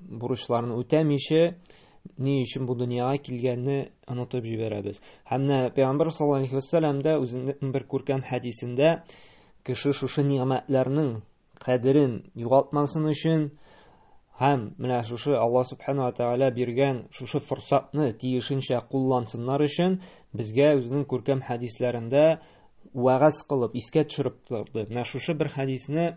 бурычларын үтәмичә ни өчен бу дөньяга килгәнне онытып җибәрәбез. Һәм менә Пәйгамбер саллаллаһу алейһи ва сәлләм дә үзенең бер күркәм хәдисендә кеше шушы ниъмәтләрнең кадерен югалтмасын өчен һәм менә шушы Алла субхана ва тәгалә биргән шушы форсатны тиешенчә куллансыннар өчен безгә үзенең күркәм хәдисләрендә вәгазь кылып, искә төшереп торды. Менә шушы бер хәдисне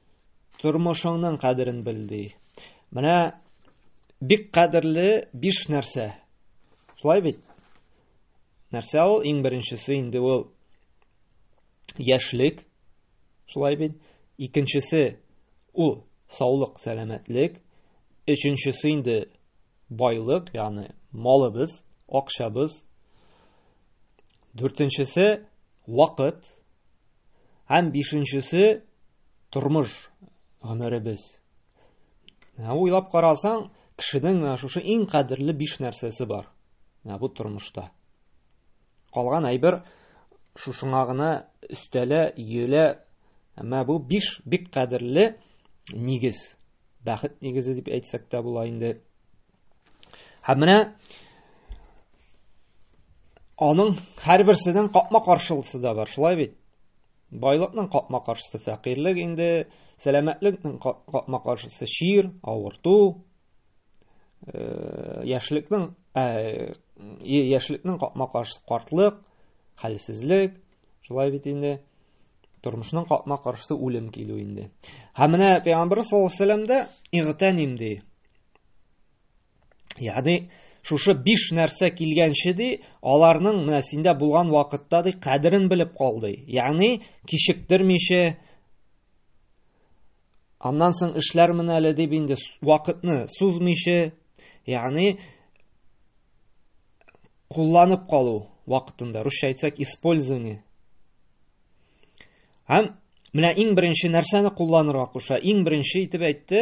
Тормышыңның кадерен бел ди. Менә бик кадерле биш нәрсә. Шулай бит? Нәрсә ул? Иң беренчесе инде ул яшьлек. Шулай бит? Икенчесе ул саулык, сәламәтлек. Өченчесе инде байлык, ягъни малыбыз, акчабыз. Дүртенчесе вакыт һәм бишенчесе тормыш гомеребез. Ә уйлап карасаң, кешенең менә шушы иң кадерле биш нәрсәсе бар. Менә бу тормышта. Калган әйбер шушыңа гына өстәлә, иелә. Әмма бу биш бик кадерле нигез. Бәхет нигезе дип әйтсәк тә була инде. Һәм менә аның һәрберсенең капма каршылысы да бар, шулай бит? Байлыкның капма каршысы фәкыйрлек инде, сәламәтлекнең капма каршысы чир, авырту, э, яшьлекнең э, яшьлекнең капма каршысы картлык, хәлсезлек, шулай бит инде? Тормышның капма каршысы үлем килү инде. Һәм менә Пәйгамбәр саллаллаһу алейһи ва сәлләмдә игътәним ди. Ягъни шушы биш нәрсә килгәнче ди, аларның менә синдә булган вакытта ди кадерен белеп кал ди. Ягъни кичектермичә аннан соң эшләр менә әле дип инде вакытны сузмыйча, ягъни кулланып калу вакытында, русча әйтсәк, использование. Һәм менә иң беренче нәрсәне кулланырга куша. Иң беренче итеп әйтте,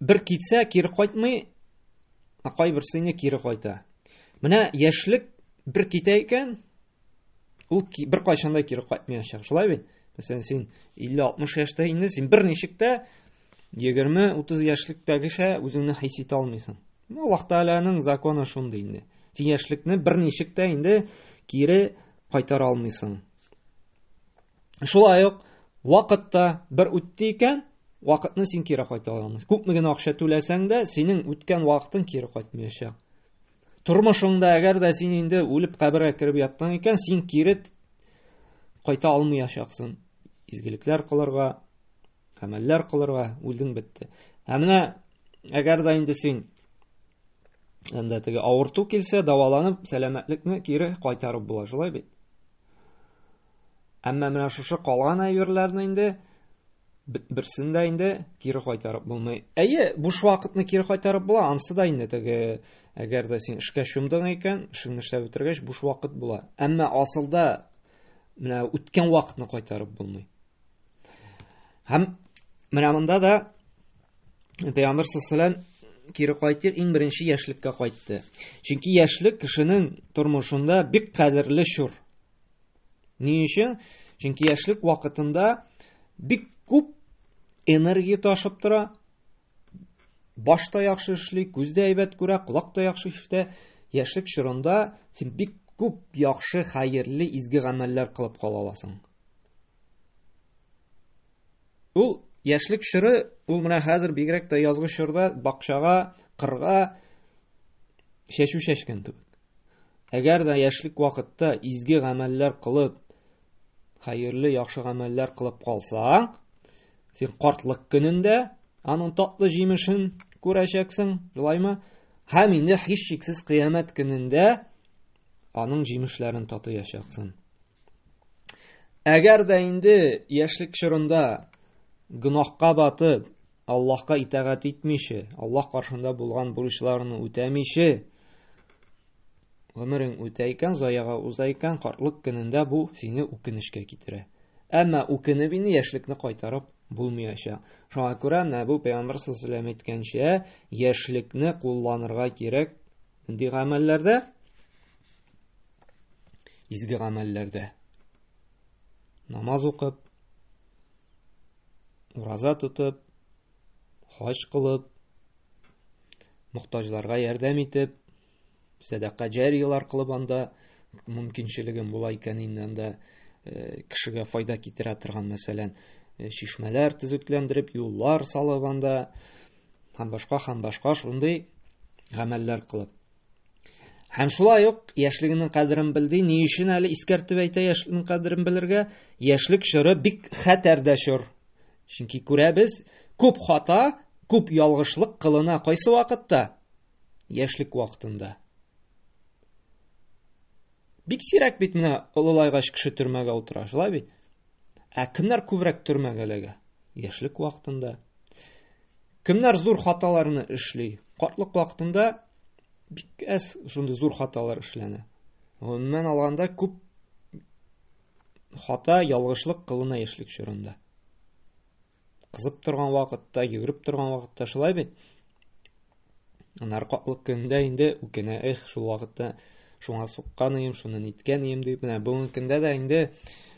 бер китсә кире кайтмый, ә кайберсе инде кире кайта. Менә яшьлек бер китә икән, ул бер кайчан да кире кайтмаячак. Шулай бит? Мәсәлән, син 50-60 яшьтә инде, син бер ничек тә 20-30 яшьлектәгечә үзеңне хис итә алмыйсың. Ну, Аллаһ Тәгаләнең законы шундый инде. Син яшьлекне бер ничек тә инде кире кайтара алмыйсың. Шулай ук вакытта бер үтте икән, вакытны син кире кайта алмыйсың. Күпме генә акча түләсәң дә, синең үткән вакытың кире кайтмаячак. Тормышыңда әгәр дә син инде үлеп кабергә кереп яттың икән, син кире кайта алмаячаксың. Изгелекләр кылырга, гамәлләр кылырга үлдең бетте. Ә менә әгәр дә инде син анда теге авырту килсә, даваланып, сәламәтлекне кире кайтарып була, шулай бит? Әмма менә шушы калган әйберләрне инде берсен дә инде кире кайтарып булмый. Әйе, буш вакытны кире кайтарып була, ансы да инде теге әгәр дә син эшкә чумдың икән, эшеңне эшләп бетергәч буш вакыт була. Әмма асылда менә үткән вакытны кайтарып булмый. Һәм менә монда да Пәйгамбер саллаллаху кире кайтыр иң беренче яшьлеккә кайтты. Чөнки яшьлек кешенең тормышында бик кадерле чор. Ни өчен? Чөнки яшьлек вакытында бик күп энергия ташып тора. Баш та яхшы эшли, күз дә әйбәт күрә, колак та яхшы ишетә. Яшьлек чорында син бик күп яхшы, хәерле, изге гамәлләр кылып кала аласың. Ул яшьлек чоры, ул менә хәзер бигрәк тә язгы чорда бакчага, кырга чәчү чәчкән кебек. Әгәр дә яшьлек вакытта изге гамәлләр кылып, хәерле яхшы гамәлләр кылып калсаң, син картлык көнендә аның татлы җимешен күрәчәксең, шулаймы? Һәм инде һичшиксез кыямәт көнендә аның җимешләрен татыячаксың. Әгәр дә инде яшьлек чорында гөнаһка батып, Аллаһка итагать итмиче, Аллаһ каршында булган бурычларны үтәмиче, гомерең үтә икән, заяга уза икән, картлык көнендә бу сине үкенечкә китерә. Әмма үкенеп инде яшьлекне кайтарып булмаячак. Шуңа күрә менә бу пәйгамбәр саллаллаху әйткәнчә, яшьлекне кулланырга кирәк нинди гамәлләрдә? Изге гамәлләрдә. Намаз укып, ураза тотып, хаҗ кылып, мохтаҗларга ярдәм итеп, сәдака җарияләр кылып анда мөмкинчелегем була икән инде анда э, кешегә файда китерә торган, мәсәлән, э, чишмәләр төзекләндереп, юллар салып анда һәм башка һәм башка шундый гамәлләр кылып. Һәм шулай ук яшьлегенең кадерен белди. Ни өчен әле искәртеп әйтә яшьлегенең кадерен белергә? Яшьлек чоры бик хәтәр дә чор. Чөнки күрәбез, күп хата, күп ялгышлык кылына кайсы вакытта? Яшьлек вакытында. Бик сирәк бит менә олылайгач кеше төрмәгә утыра, шулай бит? Ә кемнәр күбрәк төрмәгә эләгә? Яшьлек вакытында. Кемнәр зур хаталарны эшли? Картлык вакытында бик әз шундый зур хаталар эшләнә. Гомумән алганда күп хата, ялгышлык кылына яшьлек чорында. кызып торган вакытта, йөгереп торган вакытта шулай бит. Анар катлык көндә инде үкенә, эх, шул вакытта шуңа суккан ием, шуны ниткән ием дип, менә бүгенге көндә дә инде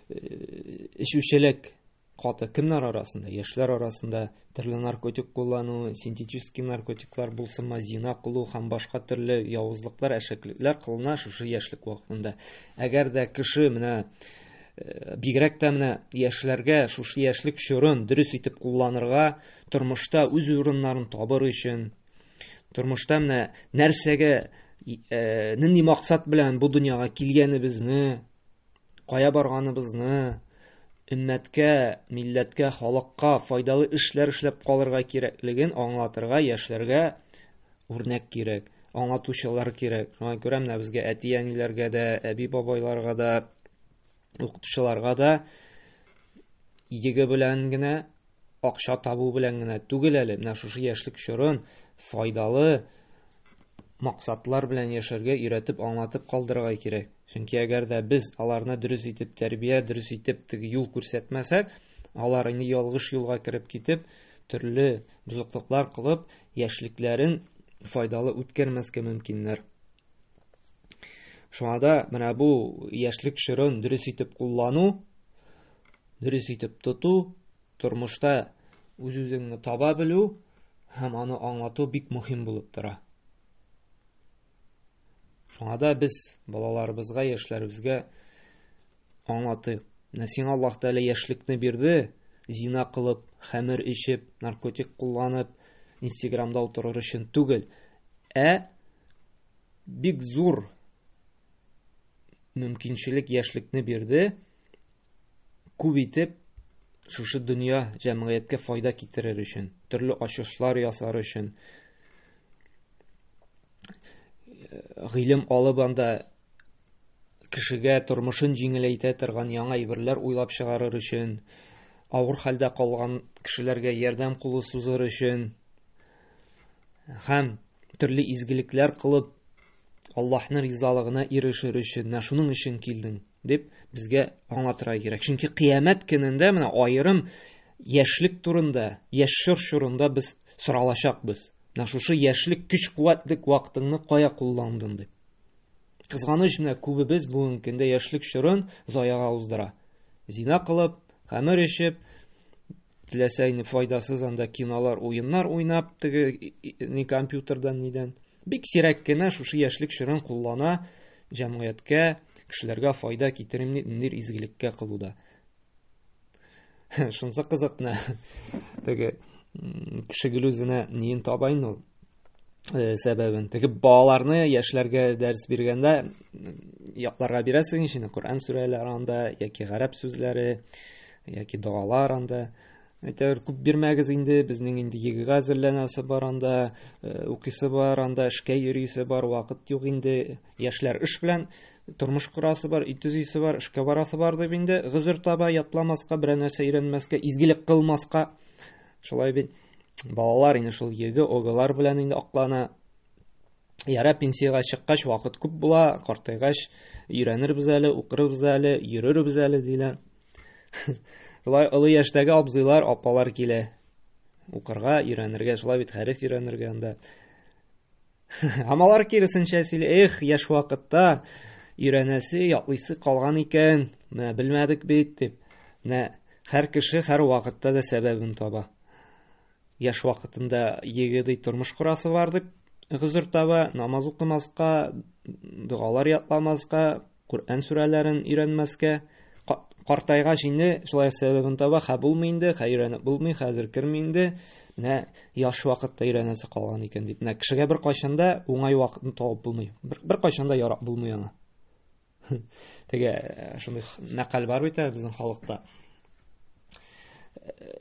эчүчелек каты кемнәр арасында? Яшьләр арасында төрле наркотик куллану, синтетический наркотиклар булсынмы, зина кылу һәм башка төрле явызлыклар, әшәклекләр кылына шушы яшьлек вакытында. Әгәр дә кеше менә Э, бигрәк тә менә яшьләргә шушы яшьлек чорын дөрес итеп кулланырга тормышта үз урыннарын табыр өчен тормышта менә нәрсәгә э, нинди максат белән бу дөньяга килгәнебезне кая барганыбызны өммәткә милләткә халыкка файдалы эшләр эшләп калырга кирәклеген аңлатырга яшьләргә Үрнәк кирәк, аңлатучылар кирәк. Шуңа күрә менә безгә әти-әниләргә дә, әби-бабайларга да, укытучыларга да иеге белән генә, акча табу белән генә түгел әле, менә шушы яшьлек чорын файдалы максатлар белән яшәргә өйрәтеп, аңлатып калдырырга кирәк. Чөнки әгәр дә без аларны дөрес итеп тәрбия, дөрес итеп теге юл күрсәтмәсәк, алар инде ялгыш юлга кереп китеп, төрле бозыклыклар кылып, яшьлекләрен файдалы үткәрмәскә мөмкиннәр. Шуңа да менә бу яшьлек чорын дөрес итеп куллану, дөрес итеп тоту, тормышта үз-үзеңне таба белү һәм аны аңлату бик мөһим булып тора. Шуңа да без балаларыбызга, яшьләребезгә аңлатыйк. Менә сиңа Аллаһ Тәгалә яшьлекне бирде, зина кылып, хәмер эчеп, наркотик кулланып, Инстаграмда утырыр өчен түгел, ә бик зур мөмкинчелек яшьлекне бирде, Күп итеп шушы дөнья җәмгыятькә файда китерер өчен, төрле ачышлар ясар өчен, гыйлем алып анда кешегә тормышын җиңеләйтә торган яңа әйберләр уйлап чыгарыр өчен, авыр хәлдә калган кешеләргә ярдәм кулы сузыр өчен һәм төрле изгелекләр кылып, Аллаһның ризалыгына ирешер өчен, менә шуның өчен килдең. Дип безгә аңлатырга кирәк. Чөнки кыямәт көнендә менә аерым яшьлек турында, яшь чор чорында без соралачакбыз. Менә шушы яшьлек көч-куәтлек вакытыңны кая кулландың дип. Кызганыч менә күбебез бүгенге көндә яшьлек чорын заяга уздыра. Зина кылып, хәмер эчеп, Теләсә инде файдасыз анда кинолар, уеннар уйнап, теге ни компьютердан нидән. Бик сирәк кенә шушы яшьлек чорын куллана җәмгыятькә, кешеләргә файда китерим дип ниндидер изгелеккә кылуда. Шунысы кызыкны. Теге кеше гел үзенә ниен таба инде ул. Э, сәбәбен теге балаларны яшьләргә дәрес биргәндә якларга бирәсең ишене коръән сүрәләре анда яки гарәп сүзләре яки догалар анда әйтәгер күп бирмәгез инде безнең инде егыга әзерләнәсе бар анда э, укыйсы бар анда эшкә йөрисе бар вакыт юк инде яшьләр эш белән тормыш корасы бар өй төзисе бар эшкә барасы бар дип инде гозер таба ятламаска берәр нәрсә өйрәнмәскә изгелек кылмаска Шулай бит балалар инде шул йөге оголар белән инде аклана. Яра пенсиягә чыккач вакыт күп була, картайгач өйрәнербез әле, укырбыз әле, йөрербез әле диләр. Шулай олы яшьтәге абзыйлар, апалар килә. Укырга, өйрәнергә, шулай бит хәреф өйрәнергә анда. Һәм алар киресенчә сөйли, эх, яшь вакытта өйрәнәсе, ятлыйсы калган икән, менә белмәдек бит, дип. Менә һәр кеше һәр вакытта да сәбәбен таба. Яшь вакытында егеди тормыш корасы бар дип гозер таба, намаз укымаска, догалар ятламаска, Коръән сүрәләрен өйрәнмәскә картайгач инде шулай сәбәбен таба, хә булмый инде, хә өйрәнеп булмый, хәзер керми инде. Менә яш вакытта өйрәнәсе калган икән дип. Менә кешегә бер кайчанда уңай вакытны табып булмый. Бер, бер кайчанда ярак булмый аңа. Теге э, шундый мәкаль бар бит ә, безнең халыкта. Э,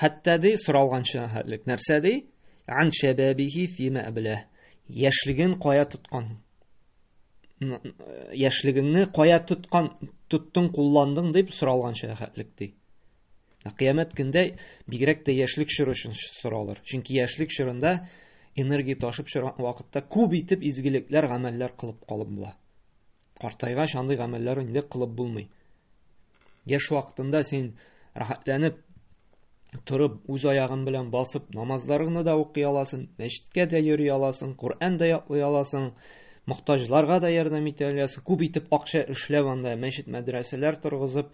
Хәтта ди соралганча хәтлек нәрсә ди? Ан шәбәбихи фима әблә. Яшьлеген кая тоткан? Яшьлегеңне кая тоткан, тоттың, кулландың дип соралганча хәтлек ди. Кыямәт көндә бигрәк тә яшьлек чоры өчен соралыр. Чөнки яшьлек чорында энергия ташып чыгар вакытта күп итеп изгелекләр, гамәлләр кылып калып була. Картайгач андый гамәлләр инде кылып булмый. Яшь вакытында син рәхәтләнеп торып, үз аягын белән басып, намазларыңны да укый аласың, мәчеткә дә йөри аласың, Коръән дә ятлый аласың, мохтаҗларга да ярдәм итә аласың. Күп итеп акча эшләп анда мәчет мәдрәсәләр торгызып,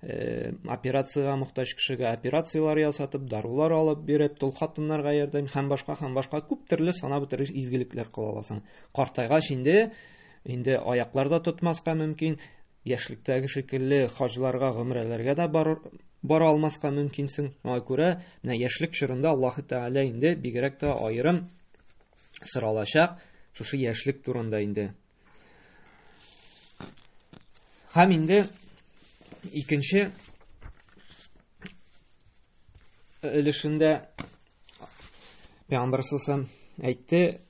э, операциягә мохтаҗ кешегә операцияләр ясатып, дарулар алып биреп, тол хатыннарга ярдәм һәм башка һәм башка күп төрле санап бетерер изгелекләр кыла аласың. Картайгач инде Инде аяклар да тотмаска мөмкин, яшьлектәге шикелле хаҗларга, гомрәләргә дә бар, бара алмаска мөмкинсең. Шуңа күрә менә яшьлек чорында Аллаһ Тәгалә инде бигрәк тә аерым соралачак шушы яшьлек турында инде. Һәм инде икенче өлешендә Пәйгамбәр әйтте,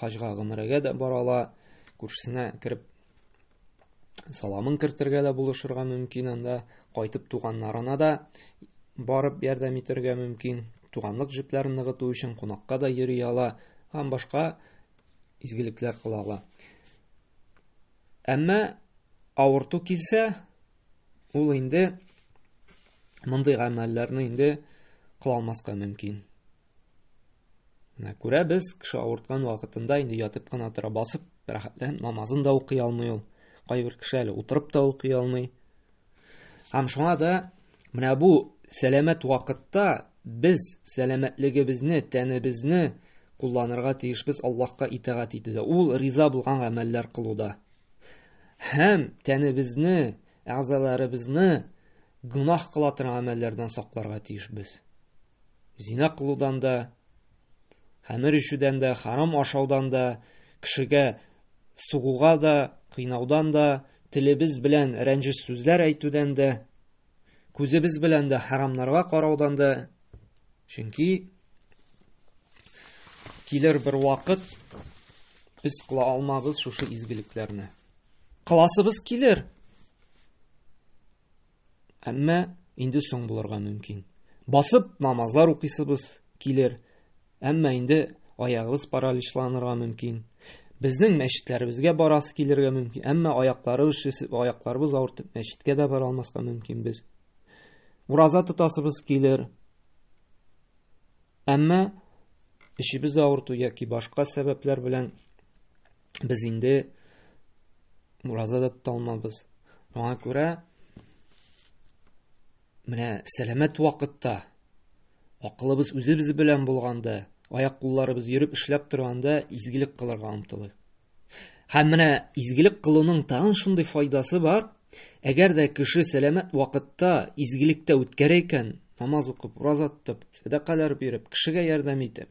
хаҗга гомерәгә дә бара ала күршесенә кереп саламын кертергә дә булышырга мөмкин анда кайтып туганнарына да барып ярдәм итәргә мөмкин туганлык җепләрен ныгыту өчен кунакка да йөри ала һәм башка изгелекләр кыла ала әмма авырту килсә ул инде мондый гамәлләрне инде кылалмаска мөмкин Менә күрәбез, кеше авырткан вакытында инде ятып кына тора, басып рәхәтләнеп намазын да укый алмый ул. Кайбер кеше әле утырып та укый алмый. Һәм шуңа да менә бу сәламәт вакытта без сәламәтлегебезне, тәнебезне кулланырга тиешбез Аллаһка итагать итүдә. Ул риза булган гамәлләр кылуда. Һәм тәнебезне, әгъзаларыбызны гөнаһ кыла торган гамәлләрдән сакларга тиешбез. Зина кылудан да, хәмер ишүдән дә, харам ашаудан да, кешегә сугуга да, кыйнаудан да, телебез белән рәнҗеш сүзләр әйтүдән дә, күзебез белән дә харамнарга караудан да. Чөнки килер бер вакыт без кыла алмабыз шушы изгелекләрне. Кыласыбыз килер. Әмма инде соң булырга мөмкин. Басып намазлар укыйсыбыз килер, әмма инде аягыбыз параличланырга мөмкин. Безнең мәчетләребезгә барасы килергә мөмкин, әмма аякларыбыз шешеп, аякларыбыз авыртып, мәчеткә дә бара алмаска мөмкин без. Ураза тотасыбыз килер. Әмма эшебез авырту яки башка сәбәпләр белән без инде ураза да тота алмабыз. Аңа күрә менә сәламәт вакытта акылыбыз үзебез белән булганда, аяк кулларыбыз йөреп эшләп торганда изгелек кылырга омтылыйк. Һәм менә изгелек кылуның тагын шундый файдасы бар. Әгәр дә кеше сәламәт вакытта изгелектә үткәрә икән, намаз укып, ураза тотып, сәдакалар биреп, кешегә ярдәм итеп,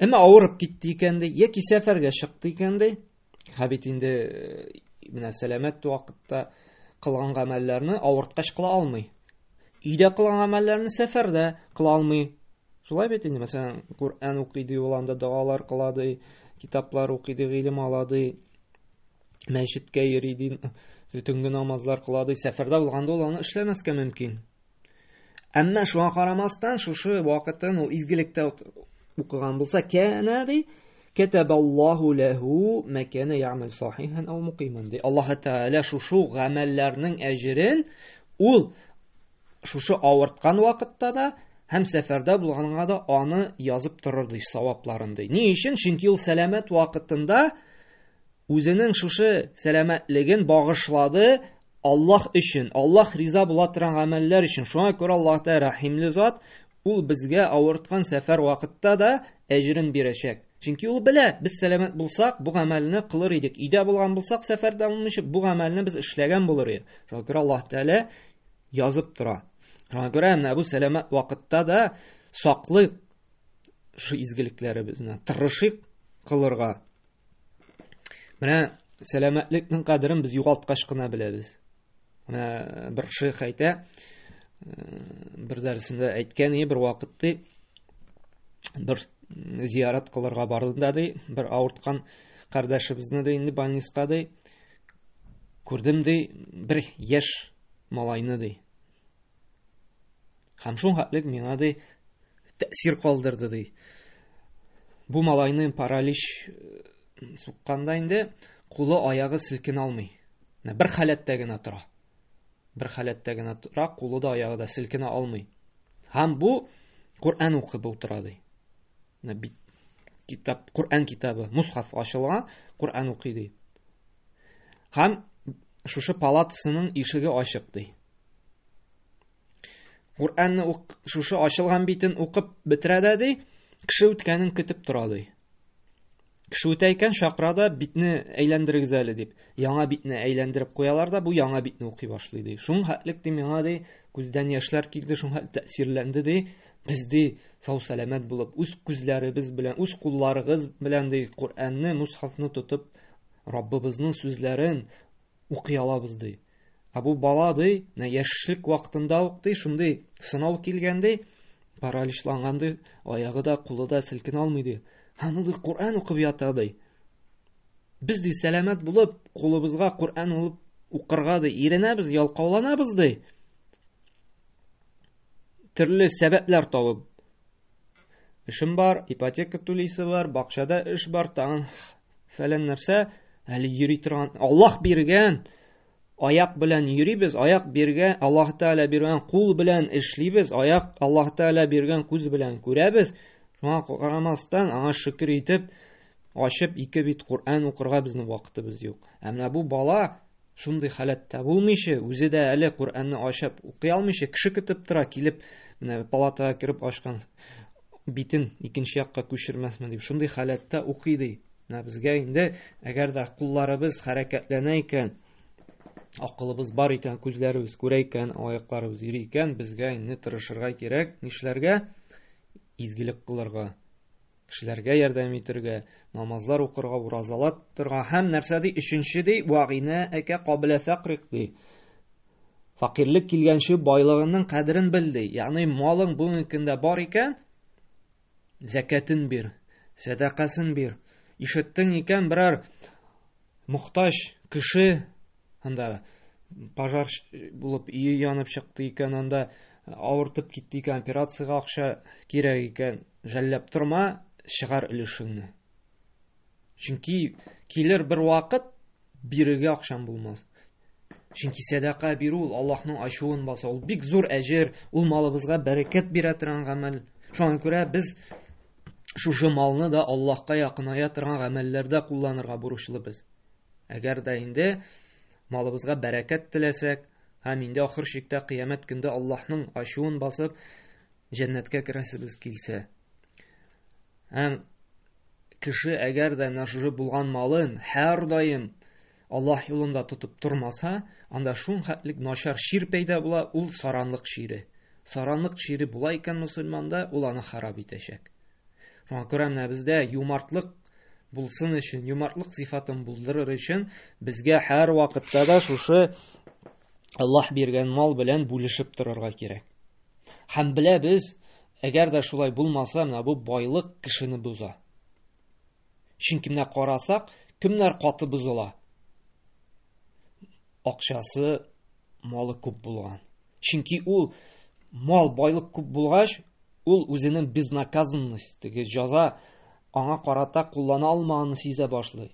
Әмма авырып китте икән ди, яки сәфәргә чыкты икән ди. Һә бит инде э, менә сәламәт вакытта кылган гамәлләрне авырткач кыла алмый. Өйдә кылган гамәлләрне сәфәрдә кыла алмый. Шулай бит инде, мәсәлән, Коръән укый ди, ул анда догалар кыла ди, китаплар укый ди, гыйлем ала ди, мәчеткә йөри ди, төнге намазлар кыла ди. Сәфәрдә булганда ул аны эшләмәскә мөмкин. Әмма шуңа карамастан, шушы вакытын ул изгелектә укыган булса, кәнә ди, кәтәбаллаху ләһу мәкәнә яамил сахихан ау мукиман ди. Аллаһ Тәгалә шушы гамәлләрнең әҗерен ул шушы авырткан вакытта да һәм сәфәрдә булганга да аны язып торыр ди, савапларын ди. Ни өчен? Чөнки ул сәламәт вакытында үзенең шушы сәламәтлеген багышлады Аллаһ өчен, Аллаһ риза була торган гамәлләр өчен. Шуңа күрә Аллаһ Тәгалә Рәхимле зат, ул безгә авырткан сәфәр вакытта да әҗрен бирәчәк. Чөнки ул белә, без сәламәт булсак, бу гамәлне кылыр идек. Өйдә булган булсак, сәфәрдә булмыйча, бу гамәлне без эшләгән булыр идек. Шуңа күрә Аллаһ Тәгалә язып тора. Шуңа күрә менә бу сәламәт вакытта да саклык шу изгелекләребезне, тырышыйк кылырга. Менә сәламәтлекнең кадерен без югалткач кына беләбез. Менә бер шейх әйтә, э, бер дәресендә әйткән бер вакыт ди, бер зиярат кылырга бардым да ди, бер авырткан кардәшебезне ди инде больниска ди, күрдем ди, бер яшь малайны ди. Һәм шул хәтлек миңа ди тәэсир калдырды ди. Бу малайны паралич э, сукканда инде кулы аягы селкен алмый. Менә бер халәттә генә тора. Бер халәттә генә тора, кулы да аягы да селкенә алмый. Һәм бу Коръән укып утыра ди. бит китап коръән китабы мусхаф ачылган коръән укый ди һәм шушы палатасының ишеге ачык ди коръәнне шушы ачылган битен укып бетерә дә ди кеше үткәнен көтеп тора ди Кеше үтә икән, чакыра да, битне әйләндерегез әле дип. Яңа битне әйләндереп куялар да, бу яңа битне укый башлый ди. Шуң хәтлек ди миңа ди, күздән яшьләр килде, шуң хәтлек тәэсирләнде ди. Без ди сау сәламәт булып, үз күзләребез белән, үз кулларыгыз белән ди Коръәнне, мусхафны тотып, Раббыбызның сүзләрен укый алабыз ди. Ә бу бала ди, менә яшьлек вакытында ук ди, шундый сынау килгән ди, параличланган ди, аягы да, кулы да селкенә алмый ди. Аны ди Коръән укып ята ди. Без ди сәламәт булып, кулыбызга Коръән алып укырга ди, иренәбез, ялкауланабыз ди. Төрле сәбәпләр табып Эшем бар, ипотека түлисе бар, бакчада эш бар, тагын фәлән нәрсә, әле йөри торган, Аллаһ биргән, аяк белән йөрибез, аяк биргән, Аллаһ Тәгалә биргән кул белән эшлибез, аяк Аллаһ Тәгалә биргән күз белән күрәбез. Шуңа карамастан, аңа шөкер итеп, ачып ике бит Коръән укырга безнең вакытыбыз юк. Ә менә бу бала шундый халәттә булмыйча, үзе дә әле Коръәнне ачып укый алмыйча, кеше көтеп тора, килеп, менә палатага кереп ачкан битен икенче якка күчермәсме дип шундый халәттә укый ди менә безгә инде әгәр дә кулларыбыз хәрәкәтләнә икән акылыбыз бар икән күзләребез күрә икән аякларыбыз йөри икән безгә инде тырышырга кирәк нишләргә изгелек кылырга кешеләргә ярдәм итәргә намазлар укырга уразалар торырга һәм нәрсә ди өченче ди вагина әкә кабелә фәкрик ди Факирлек килгәнче байлыгыңның кадерен бел ди. Ягъни малың бүгенгендә бар икән, зәкәтен бир, сәдакасын бир. Ишеттең икән берәр мохтаҗ кеше анда пожар булып өе янып чыкты икән, анда авыртып китте икән, операциягә акча кирәк икән, жәлләп торма, чыгар өлешеңне. Чөнки килер бер вакыт бирергә акчам булмас. Чөнки сәдака бирү ул Аллаһның ачуын баса, ул бик зур әҗер, ул малыбызга бәрәкәт бирә торган гамәл. Шуңа күрә без шушы малны да Аллаһка якыная торган гамәлләрдә кулланырга бурычлы без. Әгәр дә инде малыбызга бәрәкәт теләсәк, һәм инде ахыр чиктә кыямәт көндә Аллаһның ачуын басып, җәннәткә керәсебез килсә. Һәм кеше әгәр дә нажры булган малын һәрдаим Аллаһ юлында тотып тормаса, анда шул хәтлек начар чир пәйда була, ул саранлык чире. Саранлык чире була икән мусульманда, ул аны харап итәчәк. Шуңа күрә менә бездә юмартлык булсын өчен, юмартлык сыйфатын булдырыр өчен безгә һәр вакытта да шушы Аллаһ биргән мал белән бүлешеп торырга кирәк. Һәм беләбез, әгәр дә шулай булмаса, менә бу байлык кешене боза. Чөнки менә карасак, кемнәр каты бозыла? Акчасы, малы күп булган. Чөнки ул мал, байлык күп булгач, ул үзенең безнаказанность, теге җаза аңа карата куллана алмаганын сизә башлый.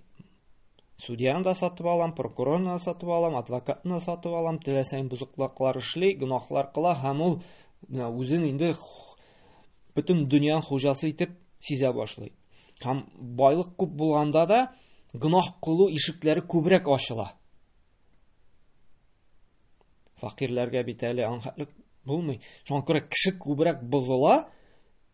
Судьяны да сатып алам, прокурорны да сатып алам, адвокатны да сатып алам, теләсәң бозыклыклар эшли, гөнаһлар кыла һәм ул үзен инде бөтен дөньяның хуҗасы итеп сизә башлый. Һәм байлык күп булганда да гөнаһ кылу ишекләре күбрәк ачыла. Факирләргә бит әле анхатлык булмый. Шуңа күрә кеше күбрәк бозыла,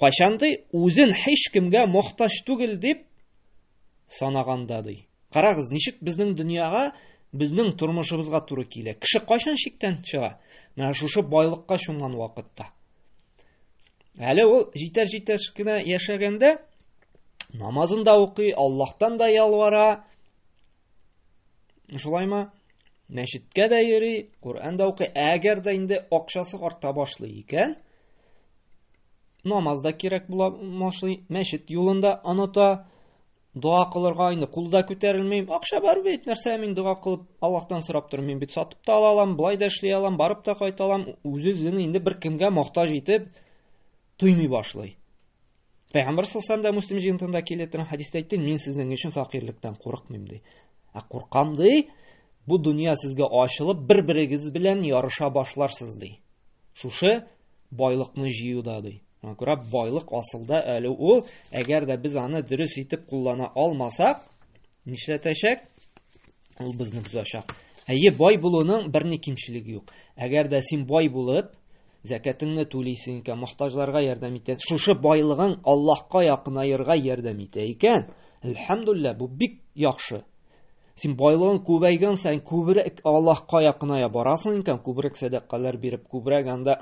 Кайчан ди, үзен һич кемгә мохтаҗ түгел дип санаганда ди. Карагыз, ничек безнең дөньяга, безнең тормышыбызга туры килә. Кеше кайчан шиктән чыга? Менә шушы байлыкка чумган вакытта. Әле ул җитәр-җитәр кенә яшәгәндә намазын да укый, Аллаһтан да ялвара. Шулаймы? Мәчеткә дә йөри, Коръән дә укый. Әгәр дә инде акчасы арта башлый икән, намаз да кирәк була башлый, мәчет юлын да оныта, дога кылырга инде кулда күтәрелмим. Акча бар бит, нәрсә мин дога кылып Аллаһтан сорап тормыйм бит. Сатып та ала алам, былай да эшли алам, барып та кайта алам. Үз-үзен инде бер кемгә мохтаҗ итеп туймый башлый. Пәйгамбәр саллаллаху алейһи Муслим җыентында килә торган хадисте әйтте, мин сезнең өчен факирлектән курыкмыйм ди. Ә куркам ди, бу дөнья сезгә ачылып, бер-берегез белән ярыша башларсыз ди. Шушы байлыкны җыюда ди. Аңа күрә байлык асылда әле ул, әгәр дә без аны дөрес итеп куллана алмасак, нишләтәчәк? Ул безне бозачак. Әйе, бай булуның бер ни кимчелеге юк. Әгәр дә син бай булып, зәкәтеңне түлисең икән, мохтаҗларга ярдәм итә. Шушы байлыгың Аллаһка якынаерга ярдәм итә икән, әлхәмдулилла, бу бик яхшы. Син байлыгың күбәйгән саен күбрәк Аллаһка якыная барасың икән, күбрәк сәдакалар биреп, күбрәк анда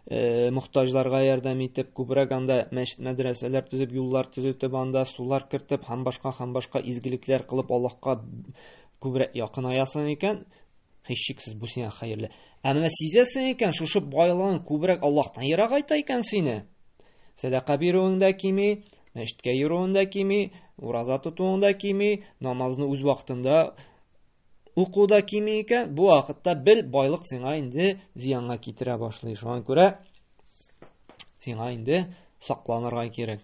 э, мохтаҗларга ярдәм итеп, күбрәк анда мәчет мәдрәсәләр төзеп, юллар төзетеп, анда сулар кертеп, һәм башка һәм башка изгелекләр кылып Аллаһка күбрәк якынаясың икән, һичшиксез бу сиңа хәерле. Ә менә сизәсең икән, шушы байлыгың күбрәк Аллаһтан ерак айта икән сине. Сәдака бирүең дә кими, мәчеткә йөрүең дә кими, ураза тотуың да кими, намазны үз вакытында Уку да кими икән, бу вакытта бел байлык сиңа инде зыянга китерә башлый. Шуңа күрә сиңа инде сакланырга кирәк.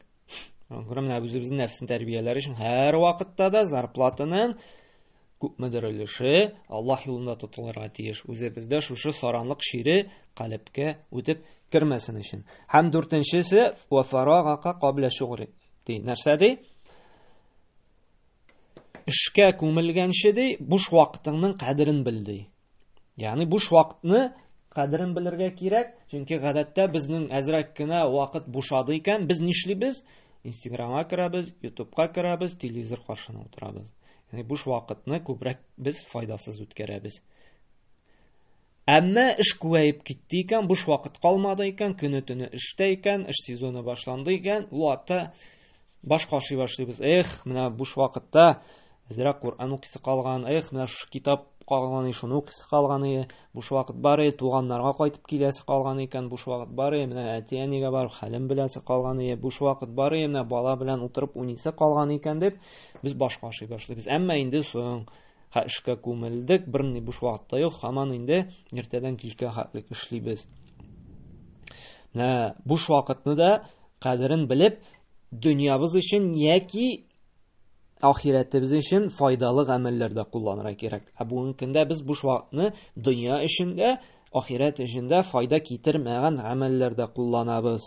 Шуңа күрә менә үзебезнең нәфсен тәрбияләр өчен һәр вакытта да зарплатаның күпмедер өлеше Аллаһ юлында тотылырга тиеш. Үзебездә шушы саранлык шире калепкә үтеп кермәсен өчен. Һәм дүртенчесе вафарагака кабля шугри. Ди нәрсә ди? эшкә күмелгәнче ди буш вакытыңның кадерен бел ди ягъни буш вакытны кадерен белергә кирәк чөнки гадәттә безнең әзрәк кенә вакыт бушады икән без нишлибез инстаграмга керәбез ютубка керәбез телевизор каршына утырабыз яғни буш вакытны күбрәк без файдасыз үткәрәбез Әмма эш күбәеп китте икән, буш вакыт калмады икән, көне-төне эштә икән, эш сезоны башланды икән, ул атта баш кашый башлыйбыз. Эх, менә буш вакытта әзрәк Коръән укысы калган, эх, менә шушы китап калган, шуны укысы калган, буш вакыт бар, е, туганнарга кайтып киләсе калган икән, буш вакыт бар, е, менә әти-әнигә бар, хәлем беләсе калган, е, буш вакыт бар, е, менә бала белән утырып унисе калган икән дип, без баш кашый башлыйбыз. Әмма инде соң Ха эшкә күмелдек, берни буш вакыт та юк, хаман инде иртәдән кичкә хатлык эшлибез. Нә буш вакытны да кадерен белеп, дөньябыз өчен яки ахирәтебез өчен файдалы гамәлләрдә кулланырга кирәк. Ә бүгенге көндә без буш вакытны дөнья өчен дә, ахирәт өчен дә файда китермәгән гамәлләрдә кулланабыз.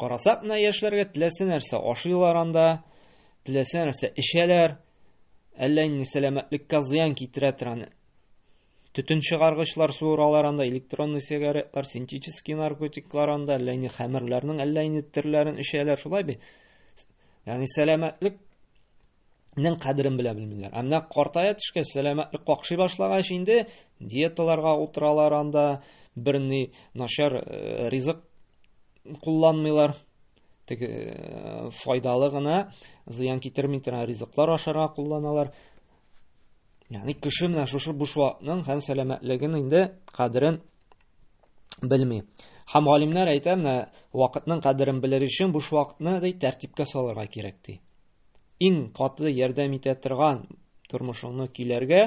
Карасак менә яшьләргә теләсә нәрсә ашыйлар анда, теләсә нәрсә эчәләр. Әллә инде сәламәтлеккә зыян китерә торган төтен чыгаргычлар суыралар анда, электронный сигаретлар, синтетический наркотиклар анда, әллә инде хәмерләрнең әллә инде төрләрен эчәләр, шулай бит. Ягъни сәламәтлек Нең кадерен белә белмиләр. Ә менә картая төшкә сәләмә какшый башлагач инде диеталарга утыралар анда, берни начар э, ризык кулланмыйлар. Тик э, файдалы гына, зыян китерми торган ризыклар ашарга кулланалар. Ягъни кеше менә шушы буш вакытның һәм сәламәтлеген инде кадерен белми. Һәм галимнәр әйтә, менә вакытның кадерен белер өчен буш вакытны ди тәртипкә салырга кирәк ди. иң катлы ярдәм итә торган тормышыңны көйләргә,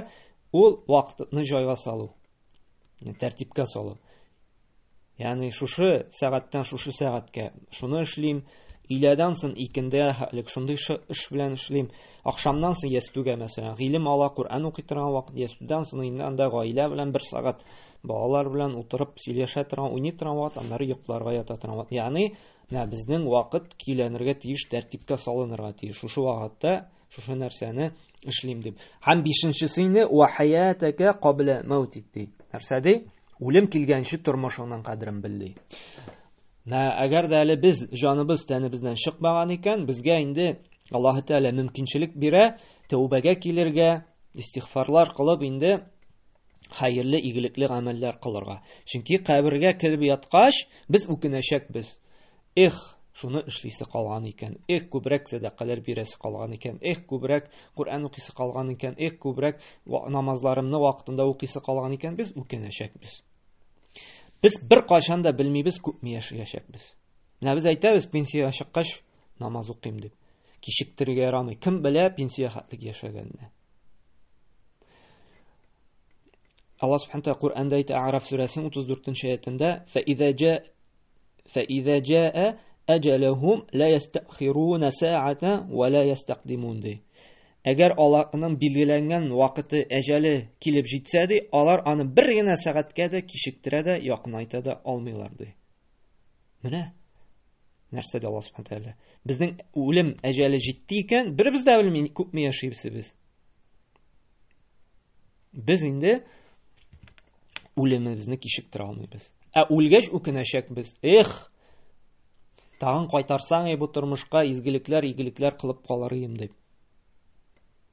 ул вакытны җайга салу, тәртипкә салу. Ягъни шушы сәгатьтән шушы сәгатькә шуны эшлим, өйләдән соң икендә әлек шундый эш белән эшлим, ахшамнан соң ястүгә мәсәлән, гыйлем ала, Коръән укый торган вакыт, ястүдән соң инде анда гаилә белән бер сәгать балалар белән утырып сөйләшә торган, уйный торган вакыт, аннары йокларга ята торган вакыт. Ягъни Менә безнең вакыт көйләнергә тиеш, тәртипкә салынырга тиеш. Шушы вакытта шушы нәрсәне эшлим дип. Һәм бишенчесе инде ва хаятака кабла маутик ди. Нәрсә ди? Үлем килгәнче тормышыңның кадерен бел ди. Нә, әгәр дә әле без җаныбыз тәнебездән чыкмаган икән, безгә инде Аллаһ Тәгалә мөмкинчелек бирә, тәүбәгә килергә, истигъфарлар кылып инде хәерле, игелекле гамәлләр кылырга. Чөнки кабергә кереп яткач, без үкенәчәкбез. Эх, шуны эшлисе калган икән. Эх, күбрәк сәдакалар бирәсе калган икән. Эх, күбрәк Коръән укыйсы калган икән. Эх, күбрәк намазларымны вакытында укыйсы калган икән. Без үкенәчәкбез. Без бер кашанда белмибез, күпме яшәячәкбез. Менә без әйтәбез, пенсия чыккач, намаз укыйм дип. Кичектерергә ярамый. Кем белә пенсия хәтлек яшәгәнне. Аллаһ субхана тәгалә Коръәндә әйтә Араф сүрәсенең 34-нче аятында: "Фә иза җа фә иза җаа аҗалахум ла ястахируна саата ва ла ястакдимун" ди. Әгәр аларның билгеләнгән вакыты, әҗәле килеп җитсә ди, алар аны бер генә сәгатькә дә кичектерә дә, якынайта да алмыйлар ди. Менә нәрсә дә Аллаһ Субхану тәгалә. Безнең үлем әҗәле җитте икән, беребез дә белми күпме яшибез без. Без инде үлемебезне кичектерә алмыйбыз. Ә үлгәч үкенәчәкбез. Эх! Тагын кайтарсаң, бу тормышка изгелекләр, игелекләр кылып калыр идем дип.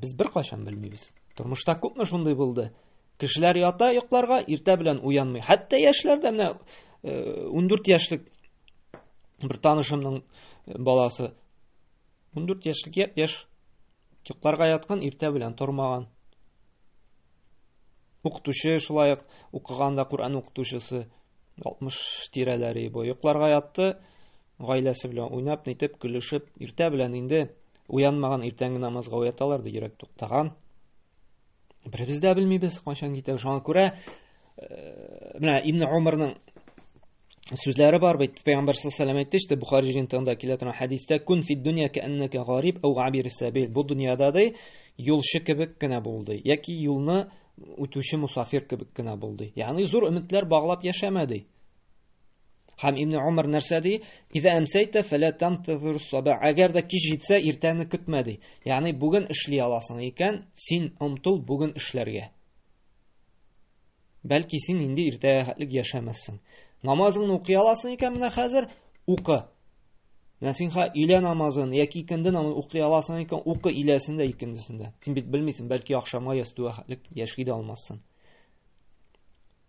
Без бер кайчан белмибез. Тормышта күпме шундый булды? Кешеләр ята йокларга, иртә белән уянмый. Хәтта яшьләр дә менә 14 э, яшьлек бер танышымның э, баласы 14 яшьлек яп яшь йокларга яткан, иртә белән тормаган. Укытучы шулай ук укыганда Коръән укытучысы 60 тирәләре бу. Йокларга ятты, Гаиләсе белән уйнап, нитеп, көлешеп, иртә белән инде уянмаган иртәнге намазга уяталар ди, йөрәк туктаган. Беребез дә белмибез, кайчан китә. Шуңа күрә э, менә Ибн Умарның сүзләре бар бит. Пәйгамбәр саллаллаху алейһи әйтте, işte Бухари җентында килә торган хәдистә, "Кун фид дөнья кәаннәка гариб ау габир сабил". Бу дөньяда ди, юлчы кебек кенә булды. Яки юлны үтүче мусафир кебек кенә булды. Ягъни зур өметләр баглап яшәмәде. Һәм Ибн Умар нәрсә ди? Иза әмсәйтә фәлә тамтазир саба. Әгәр дә кич җитсә, иртәне көтмә ди. Ягъни бүген эшли аласың икән, син омтыл бүген эшләргә. Бәлки син инде иртәгә хәтлек яшәмәссең. Намазыңны укый аласың икән менә хәзер, укы. Менә син ха илә намазын яки икенде намазын укый аласың икән, укы иләсен дә икендесен дә. Син бит белмисең, бәлки ахшамга ястүгә хәтлек яши дә алмассың.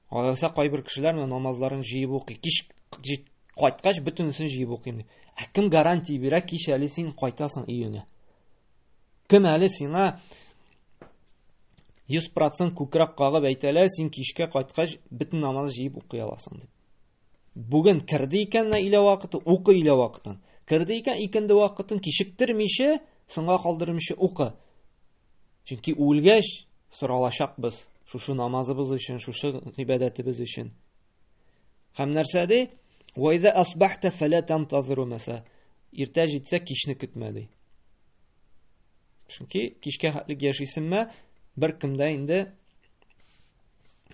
Алайса кайбер кешеләр менә намазларын җыеп укый. Кич кайткач бөтенесен җыеп укыйм. Ә кем гарантия бирә, кич әле син кайтасың өеңә? Кем әле сиңа 100% күкрәк кагып әйтәлә, син кичкә кайткач бөтен намаз җыеп укый аласың дип. Бүген керде икән илә вакыты, укы илә вакытын. Керде икән икенде вакытын кичектермичә, соңга калдырмыйча укы. Чөнки үлгәч соралачакбыз шушы намазыбыз өчен, шушы гыйбадәтебез өчен. Һәм нәрсә ди? Ва иза асбахта фала тантазиру маса. Иртә җитсә кичне көтмә ди. Чөнки кичкә хәтлек яшисеңме, бер кемдә инде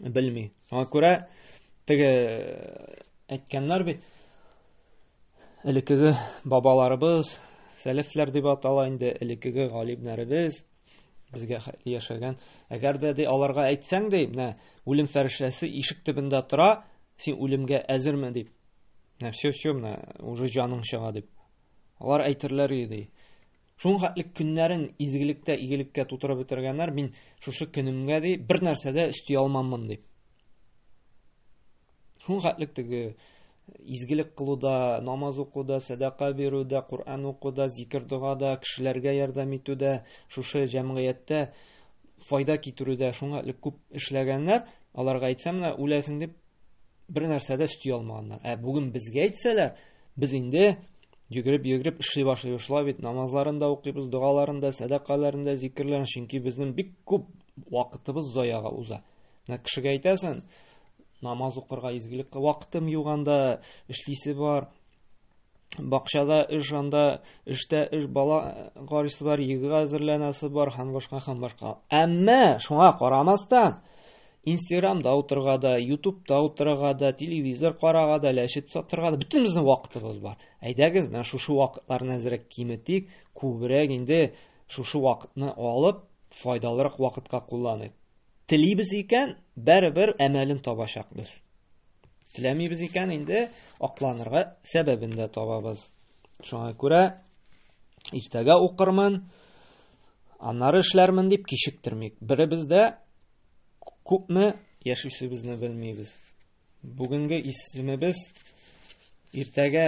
белми. Аңа күрә теге әйткәннәр бит элекеге бабаларыбыз, сәләфләр дип атала инде, элекеге галимнәребез безгә яшәгән. Әгәр дә ди аларга әйтсәң ди, менә үлем фәрештәсе ишек төбендә тора, син үлемгә әзерме дип. Менә все, все, менә уже җаның чыга дип. Алар әйтерләр иде. Шуңа хәтле көннәрен изгелектә, игелеккә тутырып бетергәннәр, мин шушы көнемгә ди бер нәрсә дә өсти алмаммын дип. Шуңа хәтле теге изгелек кылуда, намаз укуда, сәдака бирүдә, Коръән укуда, зикер догада, кешеләргә ярдәм итүдә, шушы җәмгыятьтә файда китерүдә шуңа элек күп эшләгәннәр, аларга әйтсәм менә үләсең дип бер нәрсә дә өсти алмаганнар. Ә бүген безгә әйтсәләр, без инде Йөгереп-йөгереп эшли башлый шулай бит, намазларын да укыйбыз, догаларын да, сәдакаларын да, зикерләрен, чөнки безнең бик күп вакытыбыз заяга уза. Менә кешегә әйтәсен, намаз укырга изгелек вакытым юк анда, эшлисе бар, бакчада эш анда, эштә эш бала гарисы бар, егыга әзерләнәсе бар һәм башка һәм башка. Әмма шуңа карамастан, Инстаграмда утырырга да, Ютубта утырырга да, телевизор карарга да, ләшет сатырга да бөтенебезнең вакытыбыз бар. Әйдәгез, менә шушы вакытларны әзрәк киметик, күбрәк инде шушы вакытны алып, файдалырак вакытка кулланыйк. Телибез икән, бәрібір әмәлен табачакбыз. Теләмибез икән, инде акланырга сәбәбен дә табабыз. Шуңа күрә иртәгә укырмын, аннары эшләрмен дип кичектермик. Беребез дә Күпме яшүсебезне белмибез. Бүгенге исемебез иртәгә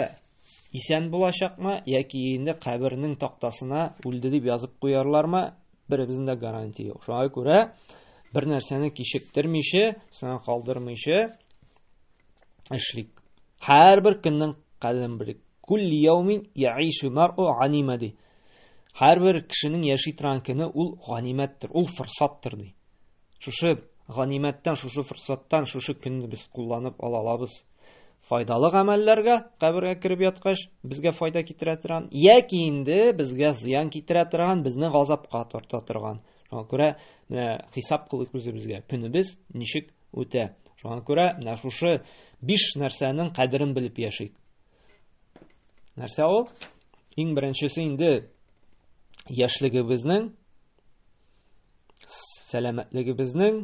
исән булачакмы яки инде кабернең тактасына үлде дип язып куярлармы? Беребезнең дә гарантия юк. Шуңа күрә бер нәрсәне кичектермичә, соңа калдырмыйча эшлик. Һәрбер көннең кадерен белик. Кул яумин яишу мару анимади. Һәрбер кешенең яши торган көне ул ганимәттер, ул форсаттыр ди. Шушы ганимәттән, шушы форсаттан, шушы көнне без кулланып ала алабыз. Файдалы гамәлләргә кабергә кереп яткач, безгә файда китерә торган, яки инде безгә зыян китерә торган, безне газапка тарта торган. Шуңа күрә менә хисап кылыйк үзебезгә. Көнебез ничек үтә? Шуңа күрә менә шушы биш нәрсәнең кадерен белеп яшик. Нәрсә ул? Иң беренчесе инде яшьлегебезнең, сәламәтлегебезнең,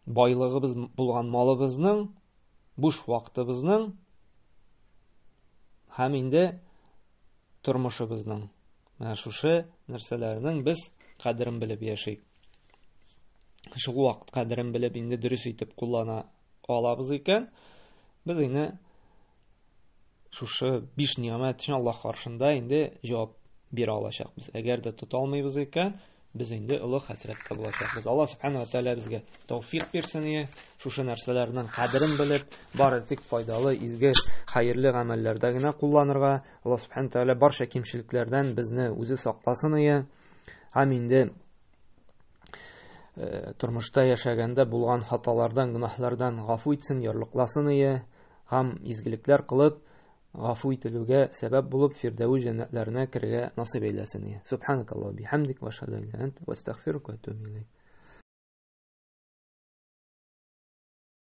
байлыгыбыз булган малыбызның, буш вакытыбызның һәм инде тормышыбызның. Менә шушы нәрсәләрнең без кадерен белеп яшик. Шул вакыт кадерен белеп инде дөрес итеп куллана алабыз икән, без инде шушы биш нигъмәт өчен Аллаһ каршында инде җавап бирә алачакбыз. Әгәр дә тота алмыйбыз икән, без инде олы хәсрәттә булачакбыз. Аллаһ субханаһу ва тааля безгә тәүфик бирсен ие, шушы нәрсәләрнең кадерен белеп, бары тик файдалы, изге, хәерле гамәлләрдә генә кулланырга. Аллаһ субханаһу ва тааля барча кимчелекләрдән безне үзе сакласын ие. Һәм инде Э, тормышта яшәгәндә булган хаталардан, гөнаһлардан гафу итсен, ярлыкласын ие, һәм изгелекләр кылып, гафу ителүгә сәбәп булып, фирдәвү җәннәтләренә керергә насыйп әйләсен ие. Субханакаллаһу бихамдик ва ашһаду ан ла илаһ илля ант ва